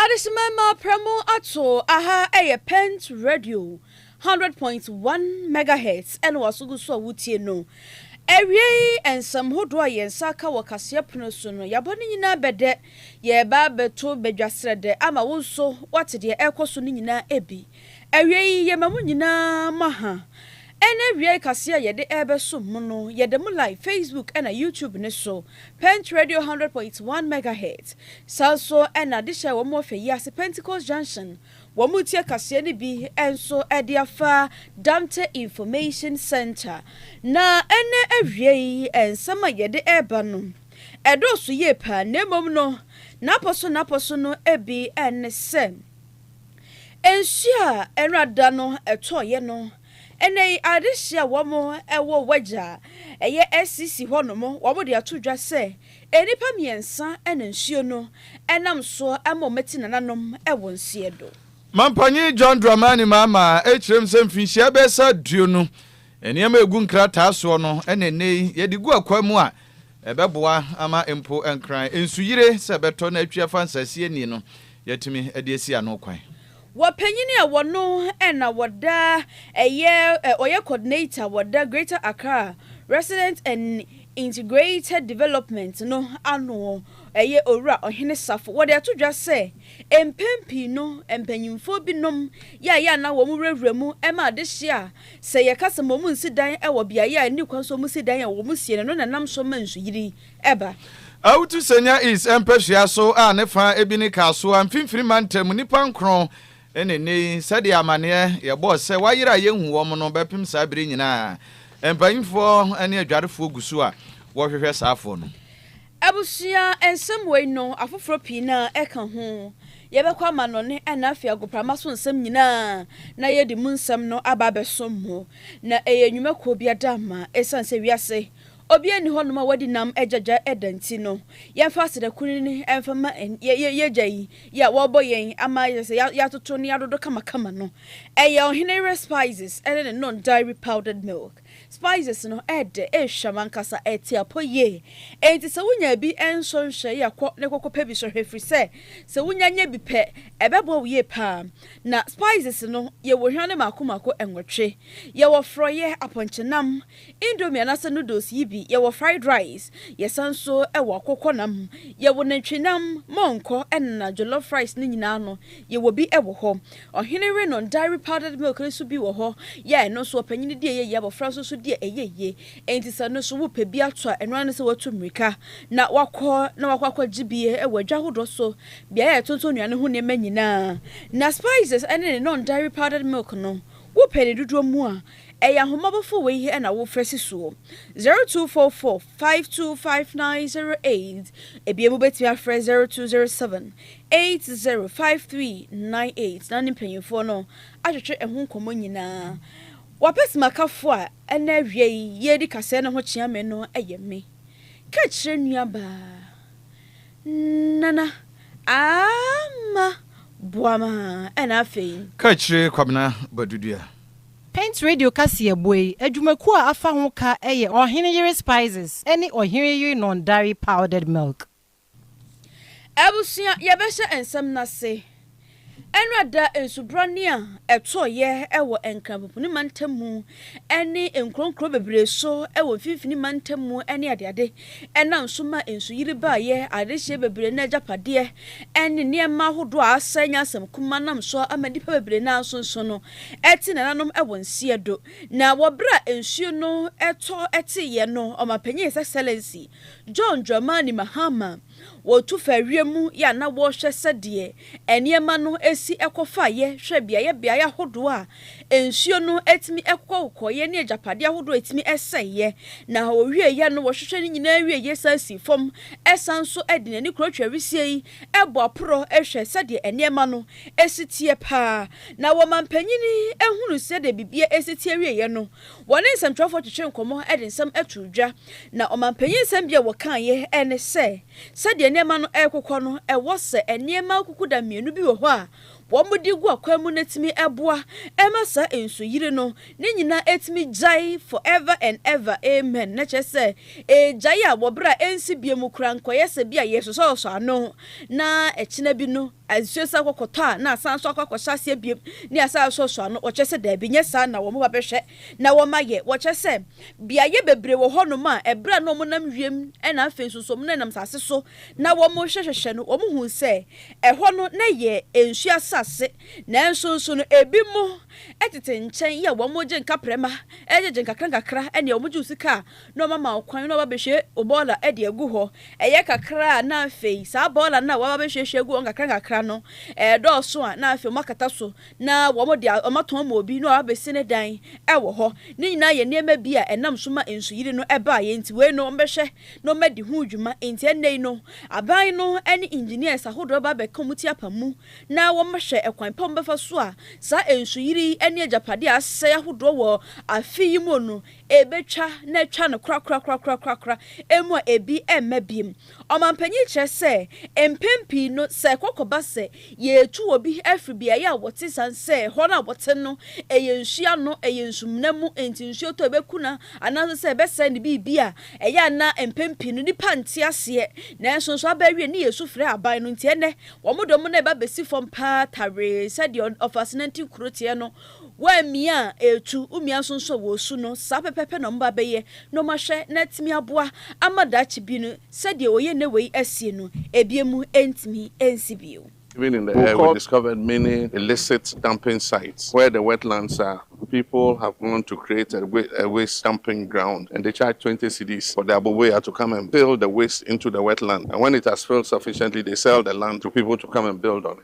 Adehyema mma pra mu ato aha ɛyɛ pent radio hundred point one megahertz ɛna waso gu so a wotie no awiei nsɛm hodoɔ a yɛn nsa aka wɔ kaseɛ pono so no yɛabɔ ne nyinaa bɛdɛ yɛreba abɛto badwa srɛdɛ ama wo nso wate deɛ ɛrekɔ so no nyinaa bi. Awiei, yɛma mo nyinaa mo aha. Ɛne awiae kaseɛ a yɛde rebɛsom mo no, yɛda mu live Facebook ɛna YouTube no so, Pent Radio 100.1 Megahertz. Saa nso na adehye a ɛwɔ mo wɔ fɛ yi ase, Pentecost Junction, wɔn retie kaseɛ no bi nso de afa Dante Information Center. Na ɛne awiae, nsɛm a yɛde reba no, ɛdɔɔso yie paa, na mmom no, n'apɔ so n'apɔ so no bi ne sɛ, Nsu a ɛnra da no tɔeɛ no, ɛnnɛ yi adehyeɛ a wɔn wɔ wagya a ɛyɛ SCC hɔ nom, wɔn de ato dwa sɛ nnipa mmiɛnsa na nsuo no nam soɔ ma wɔn ti nananom wɔ nseɛ do. Mampanyin John Dramani Mahama kyerɛm sɛ mfinhyia bɛyɛ sɛ aduonu, nneɛma a ɛgu nkrataa soɔ no na ɛnnɛ yi yɛde gu akwaa mu a Ɛbɛboa ama mpo Nkran nsuyire sɛ ɛbɛtɔ na atwi afa nsase ani no, yɛatumi de asi ano kwan. Wɔ panyin a wɔno na wɔda ɛyɛ ɔyɛ coordinator wɔda Greater Accra Resident and Integrated Development no ano ɛyɛ Owura Ɔhene Safo wɔde ato dwa sɛ mpɛn pii no mpanyimfoɔ binom yɛayɛ a na wɔn wurawura mu ma adehye a Sɛ yɛka sɛ ma wɔnsi dan wɔ beaeɛ a ɛnni kwan so a wɔsi dan a, wɔsie no, ɛno na ɛnam so ma nsuyiri ba. Autu Senya East mpasua so a ne fã bi ne Kasoa, Mfimfini Mantam, nnipa nkron na ɛnnɛ yi, sɛdeɛ amanneɛ yɛbɔɔ sɛ wɔayera a yɛnhu wɔn no bɛpem saa berɛ nyinaa. Mpaninfoɔ ne adwarefoɔ gu so a wɔhwehwɛ saafoɔ no. Abusua nsɛm wei no, afoforɔ pii no ara ka ho. Yɛbɛkɔ amannɔne ɛna afei agoprama so nsɛm nyinaa na yɛde mu nsɛm no aba abɛsom mo. Na ɛyɛ nnwumakuo bi adamma. Ɛsiane sɛ wiase obiara nni hɔnom a wadi nam agyagya ɛda nti no, yɛmfa aseda kunini mfa ma yɛagya yi yi a wɔrebɔ yɛn ama ayɛ sɛ yɛatoto ne yɛadodo kamakama no. Ɛyɛ Ɔhene Yere Spices ne ne Nong Dairy Powdered Milk. Spices no ɛɛdɛ, ɛɛhwam ankasa, ɛɛte apɔ yie. Enti sɛ wonya bi nso nhwɛ yɛ kɔ ne kɔkɔ pɛ bi so hwɛ firi sɛ sɛ wonya nya bi pɛ ɛbɛboa wo yie paa. Na spices no yɛwɔ hwa no mako mako nwɔtwe. Yɛwɔ frɔeɛ, apɔnkye nam, indomie anaasɛ noodles yi bi, yɛwɔ fried rice, yɛsan nso wɔ akokɔ nam, yɛwɔ nantwi nam, mɔnkɔ ɛna jollof rice no nyinaa no yɛwɔ bi wɔ hɔ. Ɔhene Rhinon Dairy Powdered Milk no nso bi wɔ hɔ yɛ a ɛno nso ɔpanyin di a ɛyɛ yie, abɔfra nso nso di a ɛyɛ yie. Enti sɛ ɛno nso wopɛ bi ato a, ɛno ara ne sɛ woatu mmirika na woakɔ na woakɔ akɔgye bi wɔ adwa ahodoɔ so, beaeɛ a yɛtontɔn nnuane ho nneɛma nyinaa. Na spices ne Rhinon Dairy Powdered Milk no, wopɛ ne dodoɔ mu a, ɛyɛ ahommɔbɔfoɔ wei he na wofrɛ si soɔ, 0244. 525908 Ebia mobɛtumi afrɛ 0207 805398 na ne mpanimfoɔ no atwetwe ɛho nkɔmmɔ nyinaa. W'apɛsimakafoɔ a ɛnnɛ awia yi yɛredi kaseɛ no ho kyea me no yɛ me. Ka kyerɛ nuabaa Nana Aamah Boamah ɛna afei. Ka kyerɛ Kwabena Badudua. Paint Radio kaseɛbɔ yi adwumakuo a afa ho ka yɛ Ɔhene Yere Spices ne Ɔhene Yere Non-Dairy Powdered Milk. Abusua, yɛbɛhyɛ nsɛm no ase. Nnora da nsubrane a ɛtɔeɛ wɔ Nkranpopuni mantam mu ne nkuro nkuro bebree so wɔ mfimfini mantam mu ne adeade Ɛnam nso ma nsuyiri baeɛ, adehyeɛ bebree ne agyapadeɛ ne nneɛma ahodoɔ a asɛe nyɛ asɛm kuma nam so ama nnipa bebree no ara nso nso no te nananom wɔ nseɛ do. Na wɔ berɛ a nsuo no tɔ teeɛ no, Ɔmampanin His Excellency John Dramani Mahama, Wɔtu faa wiem yɛ a na wɔrehwɛ sɛdeɛ nneɛma no si kɔ fa yɛ, hwɛ beaeɛ beaeɛ ahodoɔ a nsuo no tumi kokɔkokɔ yɛ ne agyapadeɛ ahodoɔ a ɛtumi sɛe yɛ. Na wɔwie yɛ no, wɔhwehwɛ ne nyinaa wie yɛ san sii fam, san nso de n'ani kura twa wisie yi, bɔ aporɔ hwɛ sɛdeɛ nneɛma no si teɛ pa ara. Na wɔn manpanin hunuu sɛdeɛ biribiara si teɛ wie yɛ no, Wɔne nsɛmtwerɛfoɔ twetwee nkɔmmɔ de nsɛm too dwa, na ɔmampanyin nsɛm bi a wɔkaeɛ ne sɛ, sɛdeɛ nneɛma no rekokɔ no, ɛwɔ sɛ nneɛma akukuda mmienu bi wɔ hɔ a wɔde gu akwan mu no tumi boa ma saa nsuyiri no ne nyinaa tumi gyae forever and ever, amen, na kyerɛ sɛ ɛregyae a wɔ berɛ a ɛnsi bio mu koraa nkɔyɛ sɛ bi a yɛresosɔsosɔ ano na ɛkyena bi no. Ansuo san kɔ kɔtɔ a, na asan nso akɔ akɔhyɛ aseɛ biom, ne asan asoasoa ano. Wɔkyerɛ sɛ, Daabi, nyɛ saa, na wɔba bɛhwɛ, na wɔma yɛ. Wɔkyerɛ sɛ, Beaeɛ bebree wɔ hɔnom a, ɛberɛ a na wɔnam wiem, ɛna afei nso nso wɔnenam asase so na wɔrehwɛhwehwɛ no, wɔhuu sɛ ɛhɔ no na ɛyɛ nsuo asase, nanso nso no, ebinom tete nkyɛn yɛ wɔn gye nkaprɛma, gyegye nkakrankakra, ɛnneɛ wɔgye wo sika a, na wɔama wo kwan na woaba abɛhwie wo bɔɔla de agu hɔ. Ɛyɛ kakra a, na afei saa bɔɔla no a woaba abɛhwiehwie agu hɔ nkakrankakra no, ɛredɔɔso a, na afei wɔakata so na wɔde a, wɔatɔn ma obi na waba abɛsi ne dan wɔ hɔ. Ne nyinaa yɛ nneɛma bi a ɛnam so ma Nsuyiri no baeɛ. Enti wei no, wɔbɛhwɛ na wɔadi ho dwuma. Enti ɛnnɛ yi no, aban no ne engineers ahodoɔ bɛba abɛka wɔn ti apa mu na wɔahwɛ ɛkwan pa a wɔbɛfa so a saa Nsuyiri ne agyapadeɛ a asɛe ahodoɔ wɔ afe yi mu no, ɛbɛtwa na atwa no korakorakorakorakorakora mu a ɛbi mma biom. Ɔmampanyin yi kyerɛ sɛ, mpɛn pii no sɛ ɛkɔkɔba sɛ yɛretu obi afiri beaeɛ a wɔte ɛsiane sɛ ɛhɔ no a wɔte no ɛyɛ nsuo ano, ɛyɛ nsumena mu enti nsuo tɔ a ɛbɛku no anaasɛ sɛ ɛbɛsɛe ne biribi a, ɛyɛ a na mpɛn pii no nnipa nte aseɛ nanso nso aba awie ne yɛsu frɛ aban no nti ɛnnɛ wɔn dɔm no reba abɛsi fam paa tawee sɛdeɛ ɔfasenantin kuro teɛ no. Wo a mia a etu wo mia so nso a wɔresu no, saa pɛpɛɛpɛ na wɔba abɛyɛ na wɔahwɛ na atumi aboa ama daakye bi no, sɛdeɛ wɔyɛ nnɛ wei asie no, ebi mu ntumi nsi bio. Even in the air we discovered many illicit dumping sites where the wetlands are people have gone to create a a waste dumping ground and they charge twenty cedis for the aboboya to come and fill the waste into the wetland and when it has filled sufficiently they sell the land to people to come and build on it.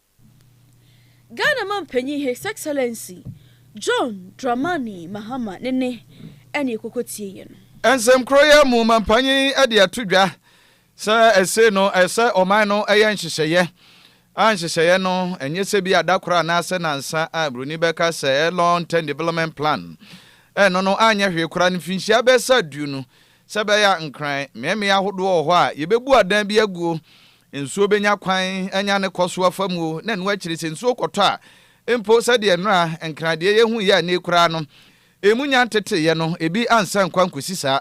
Ghana Mampanyin His Excellency John Dramani Mahama ne ne ɛne ɛkɔkɔtie yɛ no. Nsɛm korɔ yi mu Mampanyin de ato dwa sɛ ɛsei no ɛyɛ sɛ ɔman no yɛ nhyehyɛeɛ a nhyehyɛeɛ no ɛnyɛ sɛ bi a da korɔ anaa sɛ nansa a broni bɛka sɛ ɛyɛ long term development plan ɛno no anyɛ hwee koraa no mfinhyia bɛsa aduonu sɛ bɛyɛ a nkran mmeammea ahodoɔ wɔ hɔ a yɛbɛbu adan bi aguo Nsuo bɛnya kwan anya ne kɔ so afa mu o, na ɛno akyiri sɛ nsuo kɔtɔ a, mpo sɛdeɛ nnora nkran deɛ yɛhuiɛ annie koraa no, ɛmu nya nteteeɛ no, ebi ansa nkwa nkɔsi saa.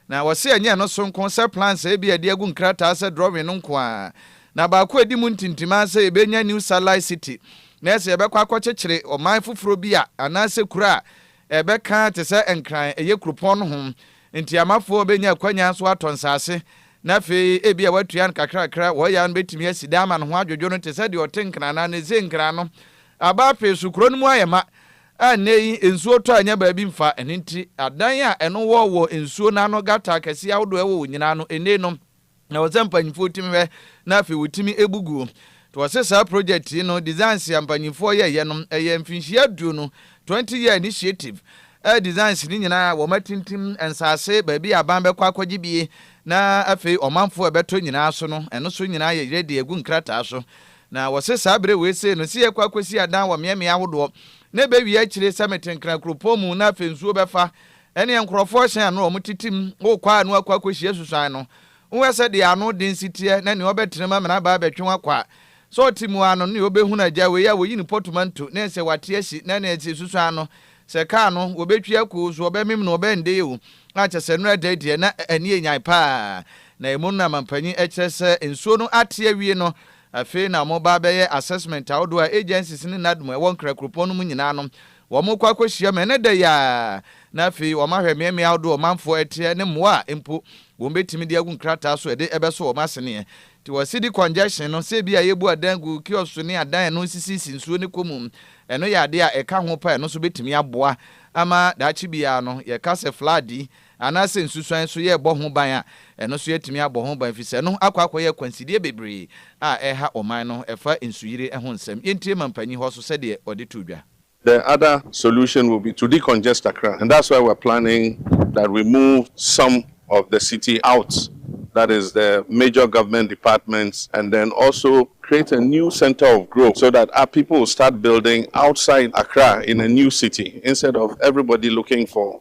Na wɔse ɛnyɛ ɛno so nko sɛ plans a ebia yɛde agu nkrataa sɛ drawing no nko ara na baako a ɛdi mu ntintim ara sɛ yɛbɛnya new satellite city na sɛ yɛbɛkɔ akɔkyekyere ɔman foforɔ bi a anaasɛ kuro a ɛbɛka te sɛ Nkran, ɛyɛ kuropɔn no ho Enti amafoɔ bɛnya akwanya nso atɔ nsase, na afei ebia wɔatua no kakrakra. Wɔyɛ a no bɛtumi asi dan ama ne ho adwodwo no te sɛ deɛ ɔte Nkran anaa ne Ze Nkran no. Aba afei so, kuro no mu ayɛ ma, a nnɛ yi nsuo tɔ a ɛnyɛ baabi mfa. Ɛno nti, adan a ɛno wɔ wɔ nsuo no ano, gutter akɛseɛ ahodoɔ a ɛwɔ wɔ nyinaa no, ɛnni nom. Na ɔsɛ mpanyimfoɔ tumi hwɛ na afei wɔtumi bu guo. To ɔse saa project yi no designs a mpanyimfoɔ yɛɛyɛ no ɛyɛ mfinhyia aduonu, 20 year initiative, a designs no nyinaa wɔn atintim nsaase baabi a aban bɛkɔ akɔgye bie na afei ɔmanfoɔ a ɛbɛtɔ nyinaa so no ɛno so nyinaa yɛ ready agu nkrataa so. Na wɔse saa berɛ wei sei no se yɛkɔ akɔsi adan wɔ mmeammea ahodoɔ na ɛbɛwie akyire sɛ mete Nkran kuropɔn mu na afei nsuo bɛfa Ɛnneɛ nkurɔfoɔ rehyɛn ano a wɔtetem wɔ kwaa ano akɔ akɔhyia susuan no, wohwɛ sɛ deɛ ano den si teɛ na nea ɔbɛtena mu ama n'aba abɛtwe wo akɔ a, sɛ ɔte mu ara no ne ɔbɛhunu agya wei a wɔyi no pɔtomanto na ɛsɛ wate ahyi na nea ɛsɛ susuan no sɛ kaa no wɔbɛtwi ako o, so wɔbɛmem no ɔbɛndee o, a kyɛ sɛ nnora da deɛ na ani yɛ nyan pa ara na ɛmu no na mampanyin kyerɛ sɛ nsuo no ate awie no afei na wɔreba abɛyɛ assessment ahodoɔ a agencies ne NADMO a ɛwɔ Nkra kuropɔn no mu nyinaa no Wɔkɔ akɔhyia me ɛnnɛ da yi ara, na afei wɔahwɛ mmeammea ahodoɔ a ɔmanfoɔ teɛ ne mmoa a mpo wɔbɛtumi de agu nkrataa so de bɛsɔ wɔn aseneɛ. Nti wɔ city congestion no, sɛ ebia yɛbu adan gu kiosk so ne adan a ɛno nsisisi nsuo no kɔ mu, ɛno yɛ adeɛ a ɛka ho paa, ɛno nso bɛtumi aboa ama daakye biara no yɛka sɛ flood yi Anaasɛ nsusuan nso yɛ bɔ ho ban a, ɛno nso yɛatumi abɔ ho ban, efisɛ ɛno akɔ akɔyɛ akwansideɛ bebree a ɛreha ɔman no. Ɛfa nsuyire ho nsɛm. Yɛntie Mampanyin Hɔso sɛdeɛ ɔde too dwa. The other solution will be to decongest Accra and that's why we're planning that we move some of the city out that is the major government departments and then also create a new centre of growth so that our people will start building outside Accra in a new city instead of everybody looking for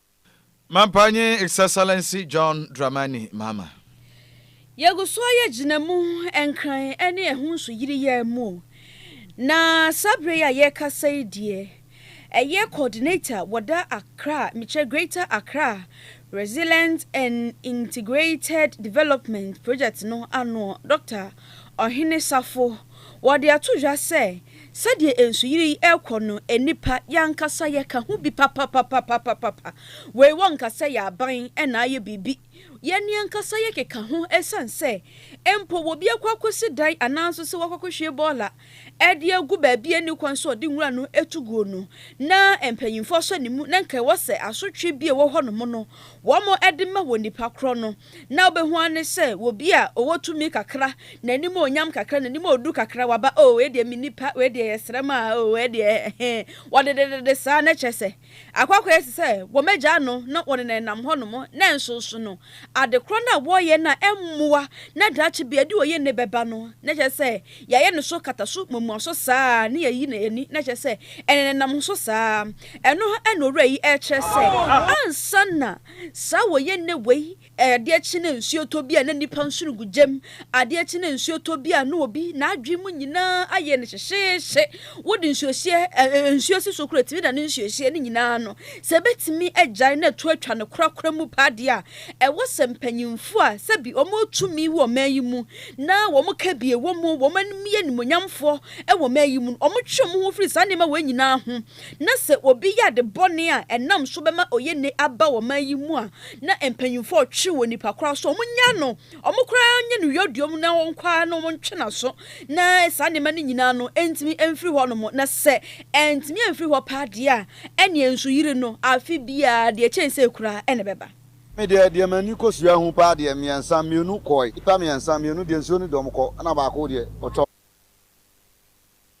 M'ampa nye Excellency John Dramani Mahama. Yegu so ayɛ gyinamu nkran ne ɛho nsoyiri yɛɛ mu, na saa bere yi a yɛrekasa yi deɛ, ɛyɛ Coordinator wɔ da Accra, mekyerɛ Greater Accra Resilient and Integrated Development Project no ano, Doctor Ɔhene Safo. Wɔde ato dwa sɛ Sɛdeɛ nsuyire yi rekɔ no, nnipa, yɛn ankasa yɛka ho bi papapapapapapa. Wei wɔnka sɛ yɛn aban na ayɛ biribi. Yɛn yɛn ankasa yɛkeka ho ɛsiane sɛ mpo obi akɔ akɔsi dan anaa nso sɛ wakɔ akɔhwie bɔɔla de agu baabi a ɛnni kwan sɛ ɔde nwura no tu guo no na mpanimfoɔ asɔ ne mu na nka ɛwɔ sɛ asotwe bi a ɛwɔ hɔnom no wɔde ma wɔ nnipa korɔ no na wobɛhu ara ne sɛ obi a ɔwɔ tumi kakra, n'animuonyam kakra, n'anim a ɔduru kakra, waba, oh, wei deɛ menni pa, wei deɛ yɛsrɛ ma, oh, wei deɛ he, wɔdededede saa, na kyerɛ sɛ, akɔ akɔyɛ te sɛ wɔagyaa no na wɔnenanam hɔnom, na nso nso no, adekorɔ no a wɔreyɛ no a ɛmmoa, na daakye bia de oye nne bɛba no, na kyerɛ sɛ, yɛayɛ no so kataso muamuaso saa ara, na yɛayi no ani, na kyerɛ sɛ, ɛnenanam so saa ara. Ɛno ara na Owura yi rekyerɛ sɛ, ansa na. Saa a wɔyɛ nnɛ wei, adeɛ kye na nsuo tɔ bi a na nnipa nsono gu gya mu. Adeɛ kye na nsuo tɔ bi a na obi n'adwene mu nyinaa ayɛ no hyehyeehye. Wode nsuohyeɛ, ɛ-ɛ-ɛ, nsuo si so koraa ɛtumi da ne nsuohyeɛ no nyinaa ano. Sɛ ɛbɛtumi agyae na ɛto atwa no korakora mu paa deɛ a, ɛwɔ sɛ mpanyimfoɔ a sɛbi wɔn wɔ tumi wɔ ɔman yi mu na wɔn kabie wɔ mu, wɔn anim yɛ animuonyamfoɔ wɔ ɔman yi mu no, wɔtwe wɔn ho firi saa nneɛma wei nyinaa ho. na sɛ obi yɛ ade bɔne a ɛnam so bɛma ɔyɛ nne aba wɔ ɔman yi mu a, na mpanyimfo a wɔtwe wɔ nnipa koro aso, wɔnnyaa no, wɔn koraa nyɛ no yɔdua mu na wɔnkɔ ara na wɔntwe n'aso, na saa nneɛma no nyinaa no ntumi mfiri hɔnom, na sɛ antumi amfiri hɔ paa deɛ a, ɛnneɛ nsuyiri no, afe biara, deɛ ɛkyɛn sei koraa, na ɛbɛba. Me deɛ, deɛ m'ani kɔsuaa hu paa deɛ, mmiɛnsa, mmienu kɔe, nnipa mmiɛnsa, mmienu deɛ nsuo no dɔm kɔ, ɛnna baako deɛ, ɔtɔ.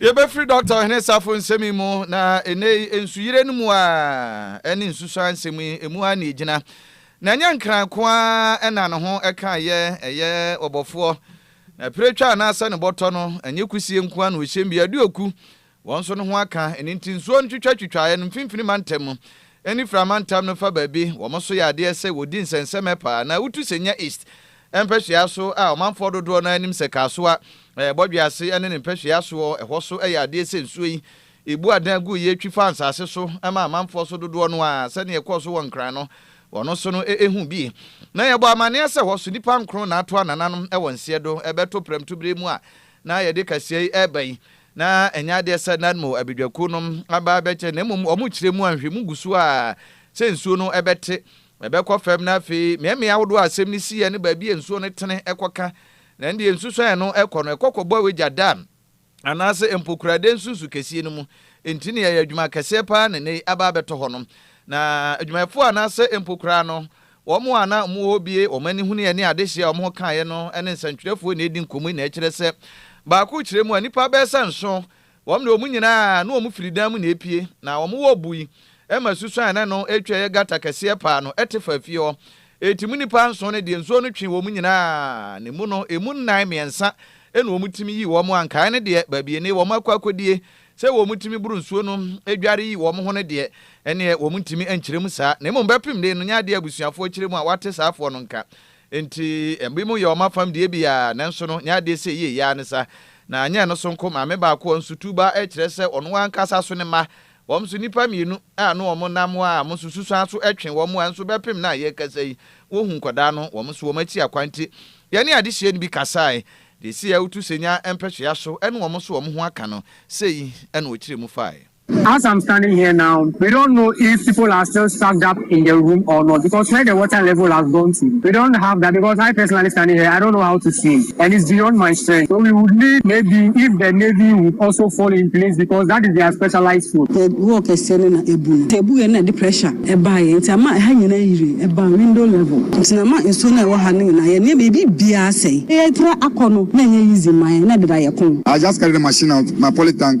Yɛbɛfiri Dɔkta Ɔhene Safo nsɛm yi mu, na ɛnnɛ yi nsuyire no mu ara ne nsusuan nsɛm yi, ɛmu ara na ɛgyina. Na ɛnyɛ Nkran nko ara na ne ho ka yɛ, ɛyɛ Ɔbɔfoɔ, na Piretwa anaasɛ ne bɔtɔ no, ɛnyɛ Kusie nko ara na ɔhyɛm bi, Aduoku, wɔn nso ne ho aka. Ɛno nti nsuo ntwitwatwitwaeɛ no mfimfini mantam mu ne Fra mantam no fa baabi, wɔn nso yɛ adeɛ sɛ wɔdi nsɛnsɛmɛ paa, na wotu sɛ nya East, Mpɛhwea so a ɔmanfoɔ dodoɔ no ara nim sɛ Kasoa, Bɔdwease ne ne mpɛhwea soɔ hɔ so yɛ adeɛ sɛ nsuo yi ɛbu adan gu yie twi fa nsase so ma amanfoɔ so dodoɔ no ara sɛdeɛ ɛkɔɔ so wɔ Nkran no wɔ no so no hu bi. Na yɛbɔ amaneɛ sɛ hɔ so nnipa nkron na ato anananom wɔ nseɛ do bɛto prɛmto berɛ mu a na yɛde kaseɛ yi reba yi na ɛnyɛ adeɛ sɛ Nadmo abadwakuo no aba abɛkyɛ na mmom wɔkyerɛ mu a nhwɛmu gu so a sɛ nsuo no bɛte Mɛbɛkɔ fam na afei mea mmeae ahodoɔ a asɛm no siiɛ ne baabi a nsuo no tene kɔ ka, na ɛndeɛ nsusuan a ɛno kɔ no ɛkɔ kɔbɔ wagya dam anaase mpokurade nsunsu kɛsie no mu, enti nea ɛyɛ adwuma kɛseɛ pa ara na nnɛ yi aba abɛtɔ hɔ no. Na adwumayɛfoɔ anaase mpokuraa no, wɔn a na wɔwɔ hɔ bue wɔn ani hunuiɛ ne adehyeɛ a wɔn kaeɛ no ne nsɛntwerɛfoɔ na ɛredi nkɔmmɔ yi na ɛkyerɛ sɛ baako kyerɛ mu a nnipa bɛɛsa nson Wɔn de wɔn nyinaa ne wɔn firi dan mu na epue, na wɔn wɔ bui ma susuan a ɛne no retwa a ɛyɛ gata kɛseɛ paa no te faa fie hɔ. Enti mo nnipa nson no deɛ, nsuo no twee wɔn nyinaa, na emu no, emu nnan mmiɛnsa na wɔtumi yii wɔn a nkaeɛ no deɛ, baabi a ɛnnɛ wɔn akɔ akɔdie sɛ wɔtumi boro nsuo no dware yi wɔn ho no deɛ, ɛnneɛ wɔntumi nkyerɛ mu saa. Na mmom bɛpem de no, nyɛ adeɛ a abusuafoɔ kyerɛ mu a wɔate saafoɔ no nka. Enti ebinom yɛ wɔn afam deɛ bi ara, nanso no, nea adeɛ sɛ yie yi ara ne sa. Na anyɛ ɛno so nko, maame baako a ɔnso tu ba kyerɛ sɛ ɔno ankasa so ne mma, wɔn nso nnipa mmienu a ano wɔn nnam a wɔn nso susuan so twe wɔn a nso bɛpem nnɛ a yɛrekasa yi, wɔhu nkwadaa no, wɔn nso wɔn akyi akwan nti. Yɛne adehyeɛ no bi kasaeɛ, deɛ ɛsii a wotu sɛ nya mpɛsoa so ne wɔn nso wɔn ho aka no, sei na ɔkyerɛɛ mu faeɛ. As I'm standing here now, we don't know if people are still stucked up in the room or not because where the water level has gone to, we don't have that because I personally standing here, I don't know how to swim and it's beyond my strength. So we would need maybe if the Navy would also fall in place because that is their specialized field. Sɛ wall kɛseɛ no na abu no, sɛ ɛbuiɛ no na ɛde pressure ɛbaeɛ nti ama ɛha nyinaa ayiri, ɛbaa window level nti na ama nsuo no a ɛwɔ ha no nyinaa, yɛn nneɛma, yɛn biribiara asɛe. Yɛtra akɔ no, na ɛnyɛ easy mma yɛn, na deda yɛko. I just carry the machine out, my poly tank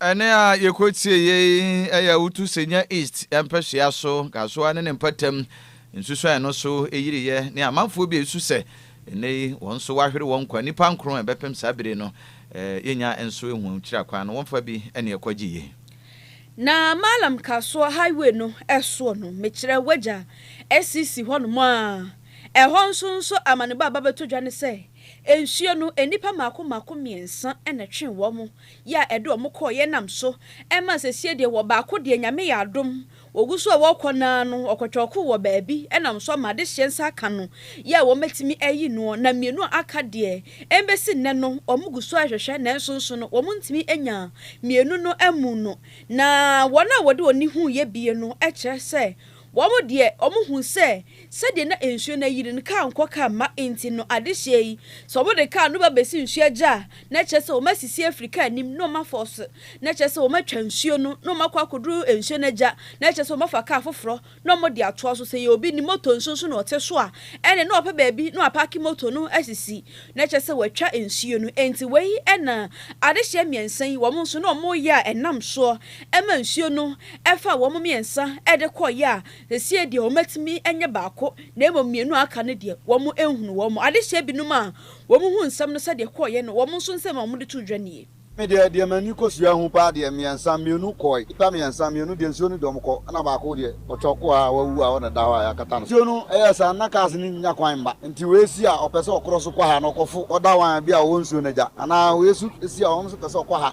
Ɛnne a yɛkɔtieeɛ yi yɛ Awutu Senya East mpɛsoa so Kasoa ne ne mpɔtam nsusuan no so yiriiɛ ne amanfoɔ bi a ɛsu sɛ ɛnnɛ yi wɔn nso wɔahwere wɔn nkwa nnipa nkron a ɛbɛpem saa bere no yɛnya nso ɛhu kyira kwan no wɔmfa bi ne ɛkɔ gye yie. Na Mallam Kasoa highway no soɔ no mekyerɛ wagya asisi hɔnom a ɛhɔ nso nso amanebɔ a ɛba bɛtɔ dwa ne sɛ nsuo no nnipa mmaako mmaako mmiɛnsa na ɛtwee wɔn yɛ a ɛde wɔn kɔɔ yɛ nam so ɛma sesie deɛ wɔ baako deɛ nyame yɛ adom wɔgu so a wɔkɔ naa no ɔkɔtwɔɔko wɔ baabi ɛnam so ama adehyeɛ nsa aka no yɛ a wɔbɛtumi ayi noɔ na mmienu a aka deɛ ɛbɛsi nnɛ no wɔn gu so ɛhwɛhwɛ nanso nso no wɔn ntumi anya mmienu no ammu no na wɔn a wɔde wɔn ni hu yɛ bie no ɛkyerɛ sɛ Wɔn deɛ, wɔhu sɛ sɛdeɛ na nsuo no ayiri no, kaa nkɔ kaa mma nti no, adehyeɛ yi, sɛ wɔde kaa no ba bɛsi nsuo agya a, na kyerɛ sɛ wɔasisi afiri kaa anim na wɔafɔɔse, na kyerɛ sɛ wɔatwa nsuo no, na wɔakɔ akɔduru nsuo no agya, na kyerɛ sɛ wɔafa kaa foforɔ na wɔde atoa so. Sɛ ɛyɛ obi ne moto nso so na ɔte so a, ɛnneɛ na wapɛ baabi na wapaake moto no asisi, na kyerɛ sɛ watwa nsuo no. Enti wei na adehyeɛ mmiɛnsa yi, wɔn nso na wɔyɛ a ɛnam soɔ. ɛma nsuo no faa wɔn mmiɛnsa de kɔeɛ a, seesei deɛ wɔatumi anya baako, na mmom mmienu a aka no deɛ, wɔanhunu wɔn. Adehyeɛ binom a wɔhuu nsɛm no sɛdeɛ ɛkɔeɛ no, wɔn nso nsɛm a wɔde too dwa nie. Me deɛ, deɛ m'ani kɔsuaa hu paa deɛ, mmiɛnsa, mmienu kɔeɛ. Nnipa mmiɛnsa, mmienu deɛ nsuo no de wɔn kɔ, ɛna baako deɛ, ɔtɔ kɔɔ hɔ a wawu a hɔ na ɛda hɔ a yɛakata no. Nsuo no yɛɛ saa no, na cars no nnya kwan mma, nti wei si a ɔpɛ sɛ ɔkorɔ so kɔ ha na ɔkɔfo ɔdawan bi a ɔwɔ nsuo no agya, anaa wei nso si a ɔno nso pɛ sɛ ɔkɔ ha.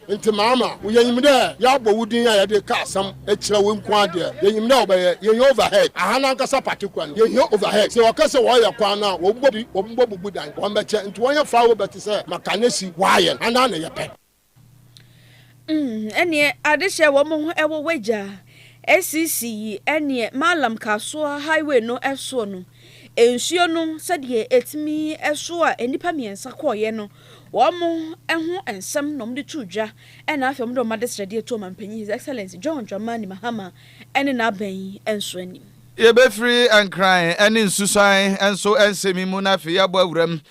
Ntsi maama wo, yenyim dɛ yɛabɔ wo din a yɛdze ka asɛm kyerɛ wo nko ara deɛ, yenyim dɛ ɔbɛyɛ. Yehia overhead. Aha no ankasa patekwa no, yehia overhead. Sɛ wɔka sɛ wɔreyɛ kwan no a, wɔbɔ bi, wɔbɔbubu dan, wɔbɛkyɛ, ntsi wɔnyɛ far away bɛtse sɛ Makanesi, wɔayɛn, anaa na yɛpɛ. Umm, nneɛ adehyɛ wɔn ho wɔ w'agya, SCC, yi, nneɛ Mallam Kasuwa highway no soɔ no, Nsuo no sɛdeɛ ɛtumi so a nnipa mmiɛnsa kɔeɛ no, wɔn ho nsɛm na wɔde too dwa na afei wɔde wɔn adesrɛdeɛ too Ɔmanpanin His Excellency John Dramani Mahama ne n'aban yi nso anim. Yɛbɛfiri Nkran ne Nsusuan nso nsɛm yi mu na afei yɛabɔ awuram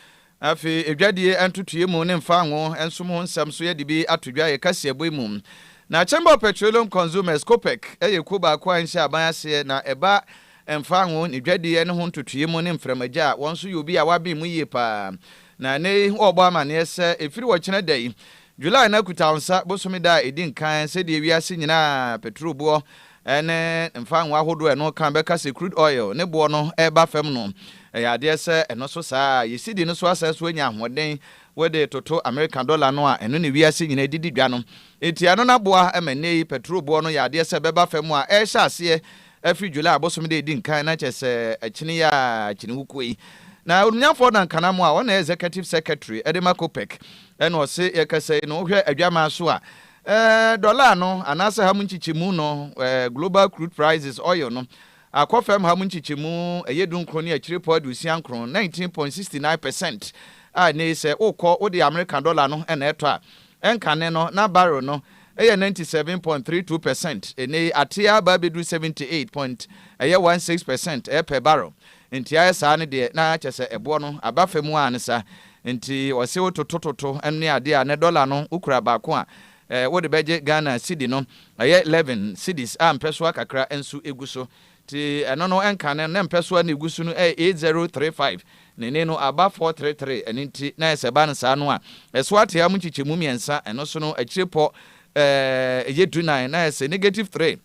Afei edwadie ntotoeɛ mu ne mfaango nsom ho nsɛm nso yɛde bi ato dwa yɛ kaseɛbɔ yi mu. Na Chamber of Petroleum Consumers, COPEC, yɛ kuo baako a ɛnhyɛ aban aseɛ na ɛba mfaango ne dwadie ne ho ntotoeɛ mu ne mframagya a wɔn nso yɛ obi a wɔaben mu yie pa ara na ɛnnɛ yi wɔrebɔ amaneɛ sɛ ɛfiri ɔkyena da yi, July no akutawonsa bosome da a ɛdi nkan sɛdeɛ wiase nyinaa petrolbuo ne mfa ngo ahodoɔ a ɛno ka bɛka sɛ crude oil ne boɔ no reba fam no, ɛyɛ adeɛ sɛ ɛno so saa a, yɛn cedi no so asan so anya ahoɔden wode toto Amerika dɔla no a ɛno ne wiase nyinaa didi dwa no. Enti ɛno no aboa ma nnɛ yi pɛtro boɔ no yɛ adeɛ sɛ ɛbɛba fam a ɛrehyɛ aseɛ afiri July bosome da a ɛdi nkan na kyerɛ sɛ akyini yi a akyini wokuo yi. Na Onimnyamfoɔ Dan Kanamwa a ɔna yɛ Executive Secretary de ma COPEC na ɔse yɛkasa yi no wohwɛ adwaman so a Ɛɛ, dɔla no, anaasɛ ha mu nkyekyɛmu no, ɛɛ, global crude prices, oil no, akɔ fam ha mu nkyekyɛmu, ɛyɛ dunkron ne akyirepɔ aduosia nkron, nineteen point sixty nine percent, a ɛnnɛ yi sɛ wokɔ wode Amerika dɔla no na ɛtɔ a, ɛnkane no, na barrel no, ɛyɛ ninety seven point three two percent, ɛnnɛ yi ateɛ aba abɛduru seventy eight point, ɛyɛ one six percent, ɛɛ, per barrel. Enti ayɛ saa no deɛ, na kyerɛ sɛ ɛboɔ no aba fa mu ara ne saa. Nti ɔse wo toto toto ne adeɛ a, nɛ dɔla no wo kura baako a, eh, wode bɛgye Ghana cedi no, ɛyɛ eleven cedis a mpɛsoa kakra nso egu so. Nti ɛno no ɛnka no, nɛ mpɛsoa no egu so no ɛyɛ eight zero three five, na eni no aba four three three, ɛno nti na sɛ ɛba no saa no a, ɛso atea mu nkyekyɛmu mmiɛnsa, ɛno so no akyire pɔ, eh, ɛyɛ du nan, na ɛsɛ negative three.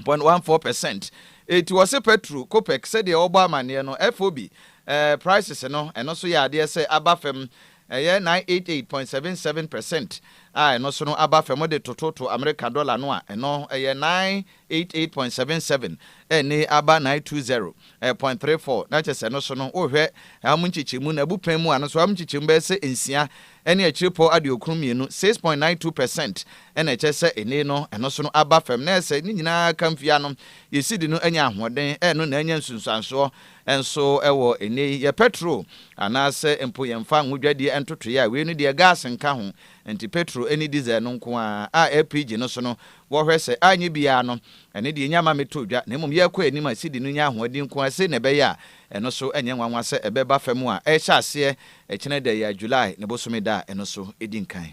Point one four percent Eti wɔse petro, copec, sɛdeɛ wɔbɔ amaneɛ no, FOB, eh, prices no, ɛno so yɛ adeɛ sɛ aba fam, ɛyɛ nine eight eight point seven seven percent a ɛno so no aba fam de tototo Amerika dɔla no a, ɛno ɛyɛ nine eight eight point seven seven ɛne aba nine two zero eh, point three four na kyɛ sɛ ɛno so no, wohwɛ ɛham nkyekyɛmu no, abupɛn mu a, no so ɛham nkyekyɛmu bɛyɛ sɛ nsia ɛne akyirepɔ aduokron mmienu, six point nine two percent, ɛna ɛkyɛ sɛ ene no ɛno so no aba fam, na ɛsɛ ne nyinaa ka mfie ano yɛ sidi no anya ahoɔden, ɛno na anya nsunsuansoɔ nso wɔ ene yi yɛ pɛtro anaasɛ mpo yɛn mfa nwo dwadie ntotoeɛ a wei no deɛ gas nka ho, nti petro ɛne diesel no nko ara a LPG no so no wɔ hwɛ sɛ anyɛ biara no ɛne deɛ ɛnya ma metɔ dwa, na mmom yɛkɔ anim a sidi no nya ahoɔden nko ara sei na ɛbɛyɛ a Ɛno so ɛnyɛ nwanwa sɛ ɛbɛba fam a ɛrehyɛ aseɛ ɛkyena ɛda yi a July ne bosome da a ɛno so ɛdi nkan.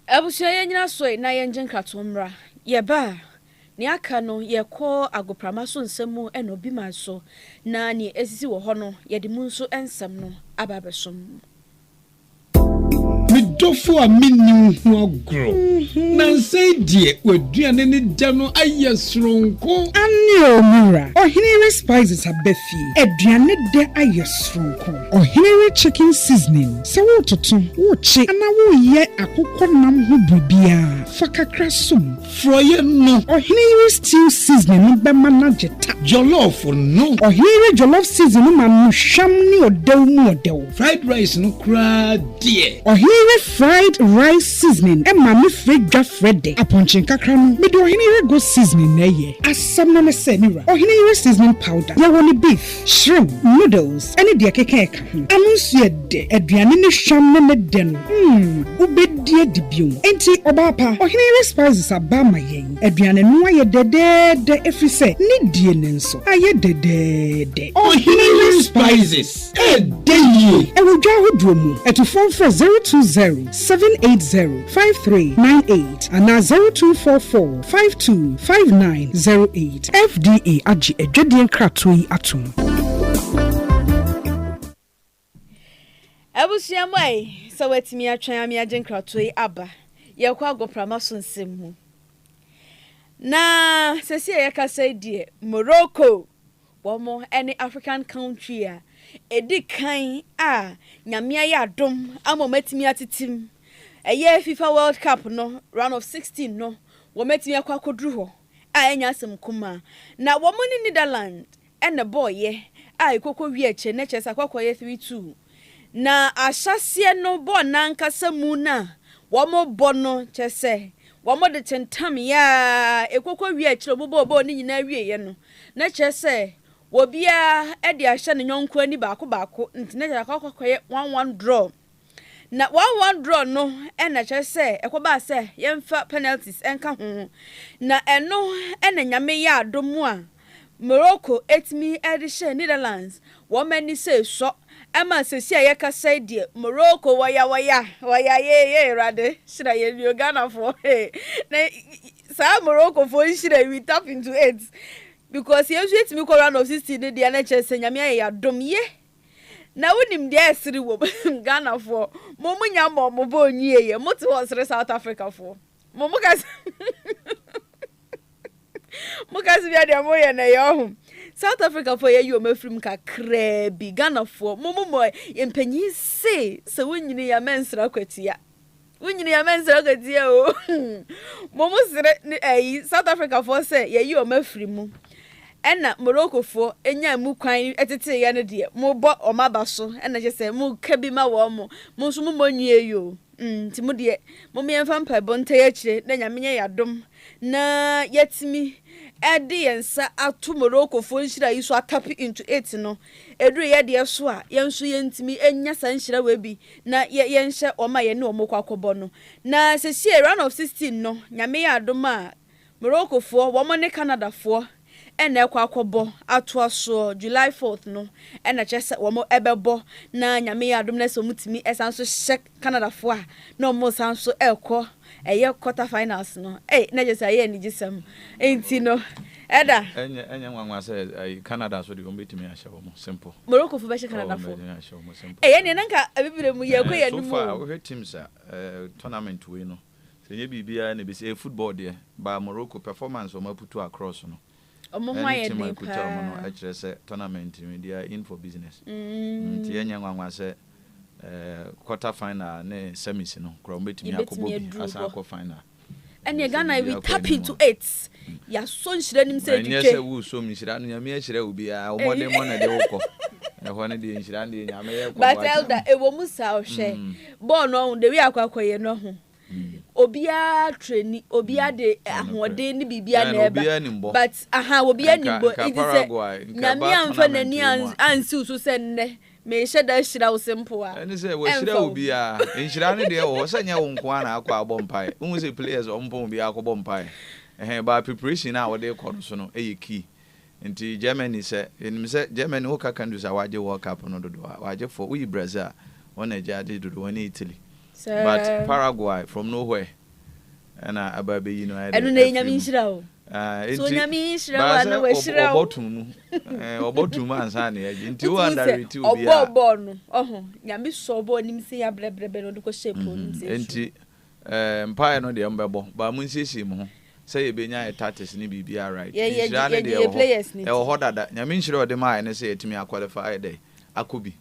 Abusua yɛ nyina soe na yɛ ngye nkratoɔ mmra. Yɛ ba a, nea aka no yɛ kɔ agoprama so nsɛm mu ɛna obi man so na nea ɛsisi wɔ hɔ no yɛde mu nso ɛnsɛm no aba abɛsom. Me dɔfo a minni wo ho agorɔ. Nnansa yi deɛ, w'aduane ne dɛ no ayɛ soronko. Aane o, me wura. Ɔhene re spices aba fie. Aduane dɛ ayɛ soronko. Ɔhene re chicken seasoning. Sɛ woretoto, worekye anaa woreyɛ akokɔ nam ho biribiara, fa kakra som. Frɔeɛ no. Ɔhene yere stew seasoning no bɛma no agye ta. Jollof no. Ɔhene yere jollof seasoning no ma no hwam ne ɔdɛw mu ɔdɛw. Fried rice no koraa deɛ. Ɔhene yere fried rice seasoning ma me frɛ dwa frɛ dɛ. Apɔnkye nkakra no, mede ɔhene yere goat seasoning na ɛyɛ. Asɛm no ne sɛ, me wura, ɔhene yere seasoning powder, yɛwɔ no beef. Shrimp, noodles ne deɛ ɛkeka ɛka ho. Ano nso yɛ dɛ. Aduane ne hwam ne ne dɛ no, mm, wobɛdi adi bio. Enti, ɔbaa pa, ɔhene yere spices aba ama yɛn. Aduane no ayɛ dɛdɛɛdɛ ɛfiri sɛ ne die no nso ayɛ dɛdɛɛdɛ. Ɔhene yere spices ɛdɛ yie. Ɛwɔ dwa ahodoɔ mu. Atufoɔ mfrɛ zero two zero, seven eight zero, five three nine eight anaa zero two four four, five two, five nine zero eight. FDA agye adwadie nkratoɔ yi atom. Abusua mu ayi sɛ watumi atwɛn ame agye nkratoɔ yi aba. Yɛkɔ agoprama so nsɛm mu. Na sɛsi a yɛkasa yi deɛ Morocco wɔn ne African country a ɛdi kan a nyame ayɛ adom ama wɔn atumi atetem ɛyɛ FIFA World Cup no round of 16 no wɔn atumi akɔ akɔduru hɔ a ɛnyɛ asɛm nkumaa na wɔn ne Netherlands na ɛbɔɔeɛ a ɛkɔkɔ wie akyire no kyerɛ sɛ akɔkɔyɛ three two na ahyɛaseɛ no bɔɔl no ankasa mu no a wɔn bɔ no kyerɛ sɛ wɔn de tentameɛ a ɛkɔkɔ wie akyire wɔn bɔɔ bɔɔl no nyinaa wieɛ no na kyerɛ sɛ wɔbiara de ahyɛ ne nyɔnko ani baako baako nti na kyerɛ akɔkɔyɛ one one draw. Na one one draw no na kyerɛ sɛ ɛkɔbaa sɛ yɛmfa penalties nka ho, na ɛno na Nyame yɛɛ adom a Morocco tumi de hyɛɛ Netherlands wɔn ani sɛ esɔ ma sɛsi a yɛkasa yi deɛ Morocco wɔya wɔya wɔya yee yee Awurade hyira yɛn bio Ghanafoɔ hee na saa Moroccofoɔ nhyira yi we tap into it because yɛn nso yɛtumi kɔ round of 16 no deɛ na kyerɛ sɛ Nyame ayɛ yɛn adom ye Na wo nim deɛ ɛsere wom Ghanafoɔ mo mo nya mmɔɔ mo bɔɔ nwie yɛ mo te hɔ sere South Africa foɔ mo mo ka sɛ mo ka sɛ bia deɛ mo yɛ na ɛyɛ ɔho South Africa foɔ yɛyi wɔn afiri mu kakraa bi Ghanafoɔ mo mo mo mpanyin se sɛ wo nyini ya mɛnsra kwatia. Wo nyini a mɛnsrɛ wo katia o Mom srɛ ne ayi South Africa foɔ sɛ yɛyi wɔn afiri mu Ɛna Morocco foɔ nya emu kwan tetee yɛ no deɛ mo bɔ wɔn aba so ɛna kyɛ sɛ mo ka bi ma wɔn mo nso mo mmɔ nwie yi o mm nti mo deɛ mom yɛn fa mpaebɔ nta yɛ akyire na nyame nyɛ yɛ adom na yɛatumi ɛde yɛn nsa ato Morocco foɔ nhyira yi so atape into it no ɛduru yɛ deɛ so a yɛn nso yɛntumi nya saa nhyira wei bi na yɛ yɛnhyɛ wɔn a yɛne wɔn rekɔ akɔbɔ no. Na sesie round of sixteen no Nyame yɛ adom a Morocco foɔ wɔn ne Canada foɔ na ɛkɔ akɔbɔ atoa soɔ July fourth no na kyerɛ sɛ wɔn bɛbɔ na Nyame yɛ adom na sɛ wɔn tumi san nso hyɛ Canada foɔ a na wɔn san nso ɛrekɔ ɛyɛ quarter finals no ei na kyerɛ sɛ ɛyɛ anigyesɛm nti no ɛda. Ɛnyɛ ɛnyɛ nwanwa sɛ ɛyi Canada nso deɛ wɔn bɛtumi ahyɛ wɔn simple. Morocco fo bɛhyɛ Canada fo. Ɛyɛ ɛnneɛ na nka abibire mu yɛ kɔ yɛ anum o. So far wohwɛ teams a tournament wei no sɛ ɛnyɛ biribiara na ɛbɛsi ɛyɛ football deɛ ba Morocco performance wɔn aputu across no. Ɔmo ho ayɛ den paa. Ɛne team a ɛkuta ɔmo no kyerɛ sɛ tournament no, they are in for business. Nti ɛnyɛ nwanwa sɛ quarter final ne semis no koraa ɔmo bɛtumi akɔbɔ bi asan akɔ final. Ɛneɛ Ghana we tap into it, yɛasɔ nhyira nim sɛ twitwe. Na ɛnyɛ sɛ wosɔ mu nhyira no, Nyame ahyira obiara, wo mmɔden mmɔ na ɛde wo kɔ. Ɛhɔ no deɛ nhyira no deɛ Nyame yɛ kɔ. But Elder, ɛwɔ mu saa, ɔhwɛ bɔɔl no ɔho, the way akɔ akɔyɛ no ɔho. obiara treni obiara mm. de eh, ahoɔden ne biribiara na ɛba but aha obiara nim bɔ nti sɛ nyame amfa n'ani ansiw so sɛ nnɛ mehyɛ da ahyira wo se mpo a ɛne sɛ wahyira wo biara nhyira no deɛ wɔ hɔ sɛ nyɛ wo nko a na akɔ abɔ mpae wohu sɛ players ɔmpɔn obiara akɔbɔ mpae ɛhɛn ba preparation a wɔde kɔ no so no ɛyɛ key Nti Germany sɛ yɛnim sɛ Germany woka countries a wagye world cup no dodoɔ a wagye four woyi Brazil a wɔn na agye ade dodoɔ ɛne Italy but Paraguay from no where ɛna aba abɛyi no ayɛ dɛ ɛno na ɛnyame nhyira o so onyame yi nhyira wa na wahyira o ɔbɔto mu ɔbɔto mu ansa na yɛgye nti wo andarete obi a ɔbɔ ɔbɔ no ɔho nyame sɔ ɔbɔ ɔnim sɛ yɛabrɛbrɛbrɛ na ɔde kɔhyɛ po nim sɛ nti Ɛɛ, mpaeɛ no deɛ mobɛbɔ, but monsiesie mo ho sɛ yɛbɛnya yɛ tactics ne biribiara right. Yɛ, yɛ, Nhyira no yɛgye deɛ yɛ ɛwɔ hɔ, players no ɛwɔ di. hɔ dada. Nyame nhyira a ɔde maaeɛ no sɛ yɛatumi a qualify ayɛ dɛ, akɔ bi.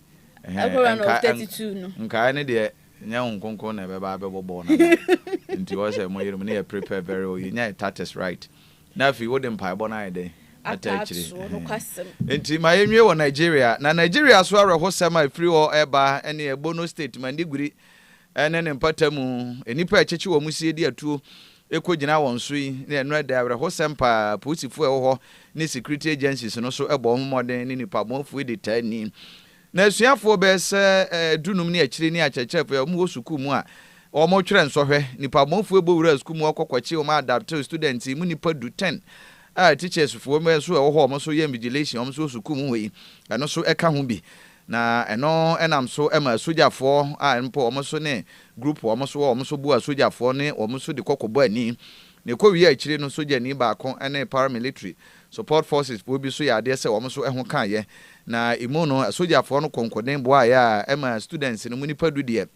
Ɛhɛn, Ɛkɔ round of nkae, thirty nk, two no. nkaeɛ no deɛ nyɛ wo nkonkron na ɛbɛba abɛbɔ bɔɔl no ama wo. Nti wɔn sɛ moyere mo ne yɛ prepare very well, yɛnya yɛ tactics right. Na afei wode mpaebɔ no ayɛ dɛn? Ata Ata akyire. atoɔ, Ɛhɛn. nokwasɛm. Nti ma yɛnwie wɔ Nigeria. Na Nigeria so awerɛhosɛm a ɛfiri hɔ reba ne ɛɛ Borno State, Mandiguri, ne ne mpata mu, nnipa a ɛkyekye wɔn sie de atuo kɔgyina wɔn so yi, na ɛno ɛda awerɛhosɛm paa, apolisifo a ɛwɔ hɔ ne security agencies no so bɔ wɔn mmɔden ne nnipamoafo yi de taa ni. Na asuafoɔ bɛyɛ sɛ dunum ne akyire ne akyerɛkyerɛfo a wɔwɔ sukuu mu a wɔretwerɛ nsɔhwɛ. Nnipamoafo yi bɔ wuraa sukuu mu kɔ kɔkye wɔn adaptive students yi mu nnipa du, ten, a teachersfoɔ nso a ɛwɔ hɔ a wɔn nso yɛ invigilation a wɔn nso wɔ sukuu mu hɔ yi, ɛno nso ka ho bi. Na ɛno nam so ma asogyafoɔ a mpo wɔn nso ne group a wɔn so wɔ wɔn nso boa asogyafoɔ ne wɔn nso de kɔ kɔbɔ ani. Na ɛkɔ wie a akyire no sogyani baako ne paramilitary support forces foɔ bi nso yɛ adeɛ sɛ wɔn nso ɛho kaeɛ. Na ɛmu no asogyafoɔ no kɔnkɔden boaeɛ a ɛma students no mu nnipa du deɛ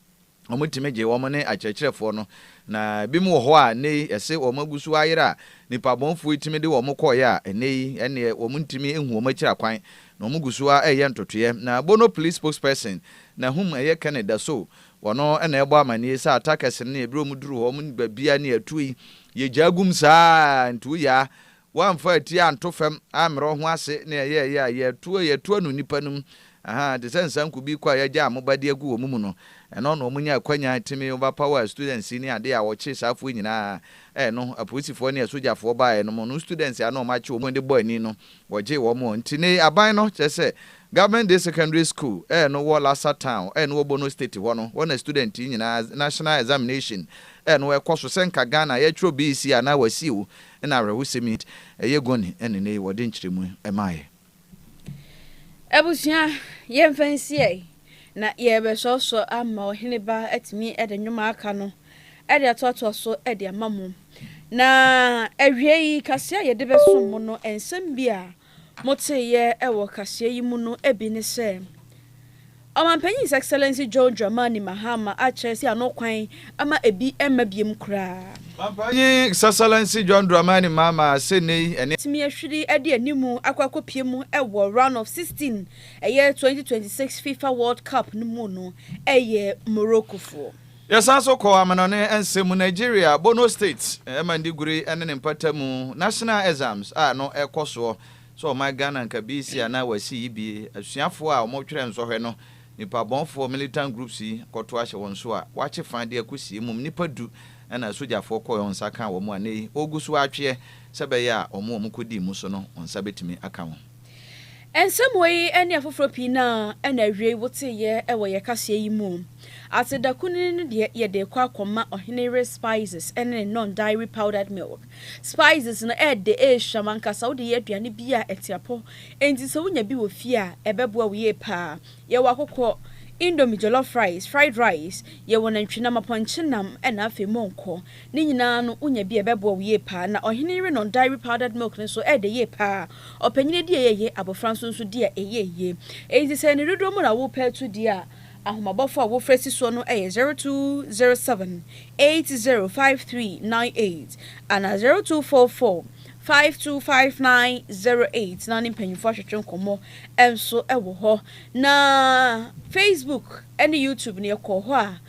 Wɔtumi gye wɔn ne akyerɛkyerɛfoɔ no, na binom wɔ hɔ a nnɛ yi ɛse wɔn agu so ayera a nnipa bɔnefoɔ yi tumi de wɔn kɔeɛ a nnɛ yi ɛnneɛ wɔn ntumi nhu wɔn akyira kwan na wɔn gu so ara ɛreyɛ ntotoeɛ. Na Bono Police Spokesperson Nahum ɛyɛ Kenneth Dasow wɔno na ɛrebɔ amaneɛ saa attackers no ne ɛberɛ wɔn duru hɔ wɔn baabi a ne ɛto yi yɛgyaa gum saa nti woyaa Wɔamfa atie anto fam ammrɛ wo ho ase ne ɛyɛɛyɛ a yɛtoa yɛtoa no nnipa no mu, ahaa, te sɛ nsanku bi kɔ a yɛagyaa mo ba de agu wɔn mu no. Ɛno na wɔnyaa akwanya timii overpower a students yi ne adeɛ a wɔkyee saa afoɔ nyinaa a ɛno apolisifoɔ ne asogyafoɔ baeɛ no mo no students a na wɔakye wɔn de bɔ ani no wɔgyee wɔn wɔn nti nei aban no kyerɛ sɛ Government Day Secondary School a ɛno wɔ Lassa Town a ɛno wɔ Bono State hɔ no hɔ na student yi nyinaa national examination a ɛno ɛkɔ so sɛ nka Ghana yɛtwerɛ BEC anaa Wasiew Nna awerɛhosɛm yi nti, ɛyɛ guani na nnɛ yi wɔde nkyerɛmu ma yɛn. Abusua, yɛmfa nsiɛ na yɛrebɛsoasoa ama Ɔhene Ba atumi de nnwom a aka no de atoatoa so de ama mo. Na awiei, kaseɛ a yɛde bɛsom mo no, nsɛm bi a Moteeɛ wɔ kaseɛ yi mu no bi ne sɛ, Ɔmampanyin His Excellency John Dramani Mahama akyerɛ sɛ ano kwan ma ebi mma biom koraa. Ɔmampanyin His Excellency John Dramani Mahama sɛ nnɛ yi ɛne. Tumi ahwiri de anim akɔ akɔpue mu wɔ Round of 16 ɛyɛ 2026 Fifa World Cup no mu no yɛ Morokofoɔ. Yɛsan nso kɔ amanɔne nsɛm mu, Nigeria, Borno State, Mandiguri ne ne mpatamu, National Exams a ɛno ɛkɔ soɔ, sɛ ɔman Ghana nka bi si anaa wɔasi yi bi, asuafoɔ a wɔtwerɛ nsɔhwɛ no, nipabɔnfoɔ, militant groups, yi kɔto ahyɛ wɔn so a wɔakye fã de akɔsie mmom nnipa du na sogyafoɔ kɔɛ wɔn nsa kaa wɔn a nnɛ yi wɔgu so atweɛ sɛ ɛbɛyɛ a wɔn a wɔkɔdii mu so no wɔn nsa bɛtumi aka wɔn. Nsɛm wei ne afoforɔ pii no ara na awiei woteeɛ wɔ yɛn kaseɛ yi mu. Ate da kunini no deɛ yɛde rekɔ akɔma Ɔhene Yere Spices ne ne Non-Dairy Powdered Milk. Spices no, ɛyɛ dɛ, ɛyɛ hwam ankasa. Wode yɛ aduane bi a ɛte apɔ, enti sɛ wonya bi wɔ fie a, ɛbɛboa wo yie pa ara. Yɛwɔ akokɔ, indomie jollof rice, fried rice, yɛwɔ nantwinam, apɔnkye nam, na afei monko. Ne nyinaa no, wonya bi a, ɛbɛboa wo yie pa ara. Na Ɔhene Yere Non-Dairy Powdered Milk no nso, ɛyɛ dɛ yie pa ara. Ɔpanyin di a ɛyɛ ye, abofra nso nso di a ɛyɛ ye. Enti sɛ ne dodow mu na worepɛ atu di a, Ahomabɔfo a wofrɛ si soɔ no yɛ 0207 805398 anaa 0244 525908 na ne mpanyimfo atwetwe nkɔmmɔ nso wɔ hɔ. Na Facebook ne YouTube no yɛkɔɔ hɔ a,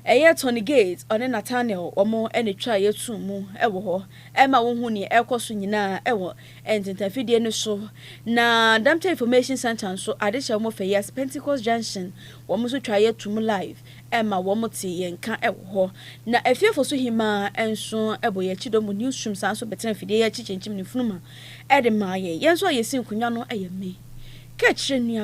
ɛyɛ Tony Gates ɔne Nathaniel wɔn na ɛtwaa yɛn too mu wɔ hɔ. Ɛma wohu nea ɛrekɔ so nyinaa wɔ ntentafidie no so na Dapta Information Centre nso ade hyɛ wɔn fɛ yes Pentecost Junction wɔn nso twa yɛ to mu live ɛma wɔn te yɛn nka ɛwɔ hɔ na Afiefo so Hemaa ɛnso ɛbɔ yɛn akyi dɔm wɔ news room saa nso bɛtena afidie yɛ akyi kyinkyim ne funuma ɛde maa yɛn yɛn nso a yɛsi nkonwa no ɛyɛ me ka kyerɛ nua